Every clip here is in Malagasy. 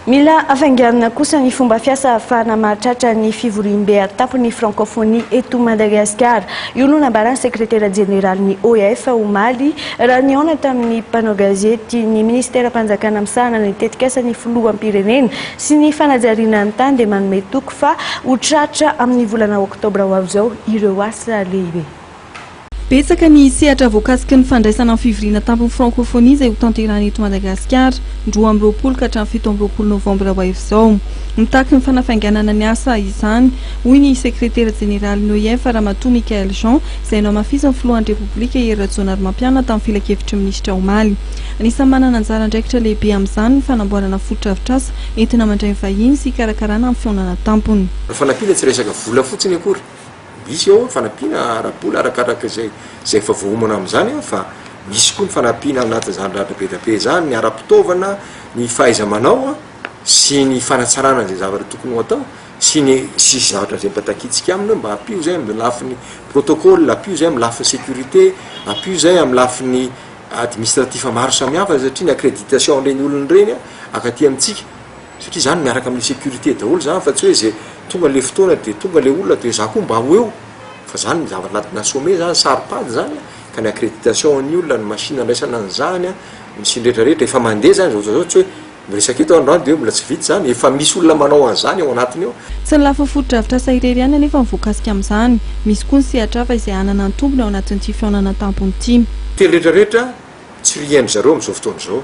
Mila hafainganina kosa ny fomba fiasa ahafahana mahatratra ny fivoriambe an-tampon'ny Frankofonia eto Madagasikara. Io no nambaran'ny sekretera jeneralin'ny OIF, omaly, raha nihaona tamin'ny mpanao gazety ny minisiteram-panjakana misahana ny tetikasan'ny filoham-pirenena sy ny fanajariana ny tany dia manome toky fa ho tratra amin'ny volana oktobra ho avy izao ireo asa lehibe. Betsaka ny sehatra voakasiky ny fandraisana ny fivoriana tampon'ny Frankofonia izay ho tanterahina eto Madagasikara ny roa amby roapolo ka hatramin'ny fito amby roapolo novambra ho avy izao. Mitaky ny fanafainganana ny asa izany, hoy ny sekretera jeneralin'ny OIF, Ramatoa Michaëlle Jean, izay nohamafisin'ny filohan'ny Repoblika Hery Rajaonarimampianina tamin'ny filankevitry ny minisitra omaly. Anisan'ny manana anjara andraikitra lehibe amin'izany ny fanamboarana fotodrafitrasa entina mandray ny vahiny sy hikarakarana ny fihaonana tampony. Ny fanampiana tsy resaka vola fotsiny akory Misy ao ny fanampiana ara-bola arakaraka izay izay efa voaomana amin'izany an, fa misy koa ny fanampiana ao anatin'izany ratra be dia be izany, ny ara-pitaovana, ny fahaiza-manao an, sy ny fanatsarana izay zavatra tokony ho atao, sy ny sisa zavatra izay mba takiantsika aminy hoe mba ampio izay amin'ny lafiny protocole, ampio izay amin'ny lafiny sécurité, ampio izay amin'ny lafiny administratif maro samihafa satria ny accréditation an'ireny olona ireny an, ankaty amintsika. satria zany miaraka amin'ny sécurité daholo zany fa tsy hoe zay tonga le fotoana de tonga le olona de za koa mba ho eo fa zany zavatra anatina sommet zany saro pady zany a ka ny accréditation an'ny olona ny machine andraisana an'izany a ny siny retraretra efa mandeha zany zao zao tsy hoe miresaka eto androany de hoe mbola tsy vita zany efa misy olona manao an'izany ao anatiny ao Tsy ny lafiny fotodrafitrasa irery ihany anefa no voakasika amin'izany, misy koa ny sehatra hafa izay hanana ny tombony ao anatin'ity fihaonana an-tampony ity. Teny retraretra tsy ry hain-dry zareo amin'izao fotoana izao.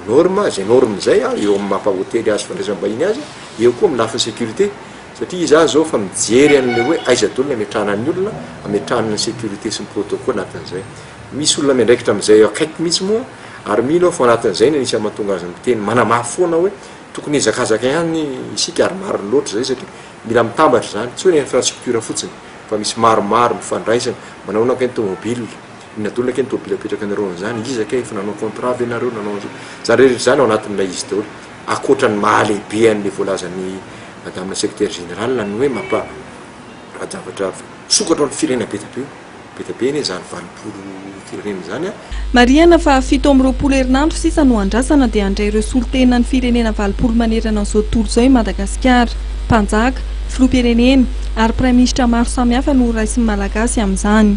Norme, zay norme zay an, eo amin'ny maha hotely azy fandraisam-bahiny azy, eo koa amin'ny lafiny sécurité, satria izaho zao efa mijery an'ilay hoe aiza daholo ny ametrahana ny olona, ametrahana ny sécurité sy ny protocole anatin'izay. Misy olona miandraikitra amin'izay eo akaiky mihitsy moa, ary mino aho fa ao anatin'izay no anisany mahatonga azy miteny manamafy foana hoe tokony hihazakazaka ihany isika ary marina loatra izay satria mila mitambatra izany, tsy hoe ny infrastructure fotsiny fa misy maromaro mifandraisana, manao ahoana kay ny tomobile, Inona daholo kay ny tobily apetrakanareo an'izany? Iza kay efa nanao contrat ve nareo nanao an'izao? Izany rehetra izany ao anatin'ilay izy daholo. Ankoatra ny maha lehibe an'ilay voalazan'i madame secretaire générale ny hoe mampa rajavatra misokatra ao amin'ny firenena be dia be io. Be dia be anie izany valopolo firenena izany an! Marihana fa fito amby roapolo herinandro sisa no andrasana dia handray ireo solontenan'ny firenena valopolo manerana an'izao tontolo izao i Madagasikara. Mpanjaka, filoham-pirenena ary praiminisitra maro samihafa no horaisin'ny Malagasy amin'izany.